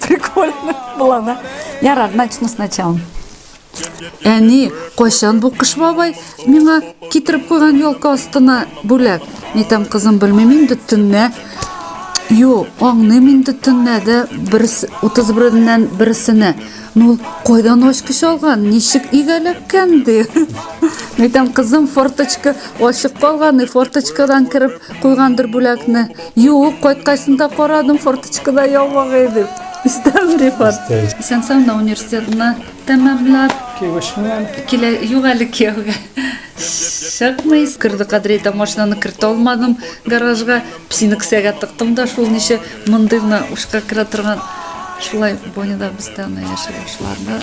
Прикольно было, да? Я рад, начну сначала. Әни, кайчан бу кыш бабай миңа китереп куйган елка астына бүләк? Ни там кызым белмим инде төннә. Юк, аңны мин төннә дә бер 31-ннән берсенә. Ну, кайдан ачкыч алган? Ничек игәләккән ди? Ни там кызым форточка ачык калган, форточкадан кереп куйгандыр бүләкне. Юк, кайткачында карадым, форточкада ябык иде. Истәме ди форт? Исән-саумы университетны тәмамлап. Кияүгә чыкмыйм. Килә, юк әле кияүгә. Чыкмыйсың. Керде Кадрәй дә машинаны кертә алмадым гаражга. Псины кесәгә тыктым да шул ничә мондый гына учка керә торган. Шулай Боня да без дә аны яшерә башладык.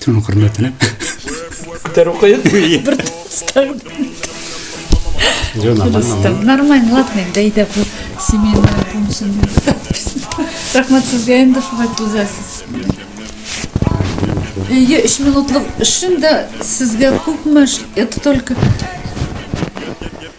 Төн хөрмәтенә. Күтәрү кыен. Бер тостан. Тостан. Нормально, ладно, инде әйдә бу семейная помощь. Рәхмәт сезгә инде шулай түзәсез. Әйе, өч минутлык эшен дә сезгә күпме, это только